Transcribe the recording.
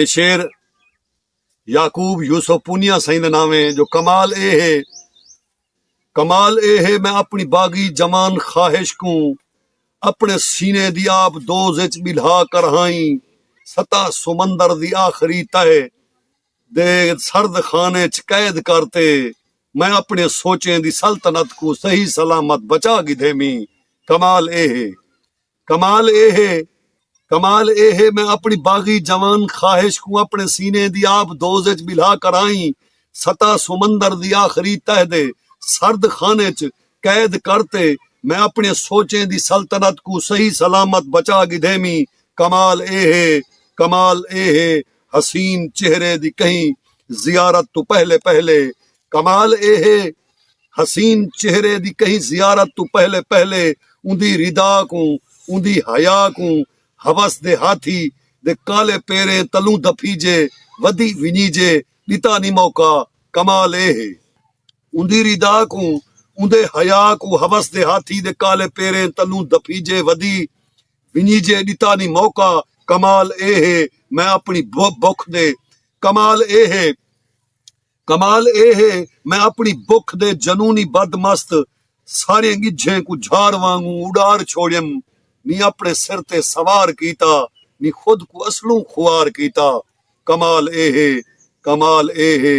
اے شعر یعقوب یوسف پونیا سئیں دا نام ہے جو کمال اے ہے کمال اے ہے میں اپنی باغی جوان خواہش کوں اپنے سینے دی آپ دوز اچ بلھا کر ہائیں سطح سمندر دی آخری تہہ دے سرد خانے اچ قید کر تے میں اپنی سوچیں دی سلطنت کوں صحیح سلامت بچا گھدیمی کمال اے ہے کمال اے ہے کمال اے ہے میں اپݨی باغی جوان خواہش کوں اپݨے سینے دی آب دوز اچ ٻلھا کر آئیں سطح سمندر دی آخری تہہ دے سرد خانے اچ قید کر تے میں اپݨیاں سوچیں دی سلطنت کوں صحیح سلامت بچا گھدیویں کمال اے ہے کمال اے ہے حسین چہرے دی کہیں زیارت توں پہلے پہلے کمال اے ہے حسین چہرے دی کہیں زیارت تو پہلے پہلے اوندی ردا کوں اوندی حیا کوں حوس دے ہاتھی دے کالے پیریں تلوں دھپیجے ودی ونیجے ڈتا نی موقع کمال اے ہے اوندی ردا کوں اوندے حیا کوں حوس دے ہاتھی دے کالے پیریں تلوں دھپیجے ودی ونیجے ڈتا نی موقع کمال اے ہے میں اپنی بکھ دے کمال اے ہے کمال اے ہے میں اپݨی بکھ دے جنونی بد مست ساریاں ڳجھیں کوں جھاڑ وانگوں اݙار چھوڑیم نی اپݨے سر تے سوار کیتا نی خود کوں اصلوں خوار کیتا کمال اے ہے کمال اے ہے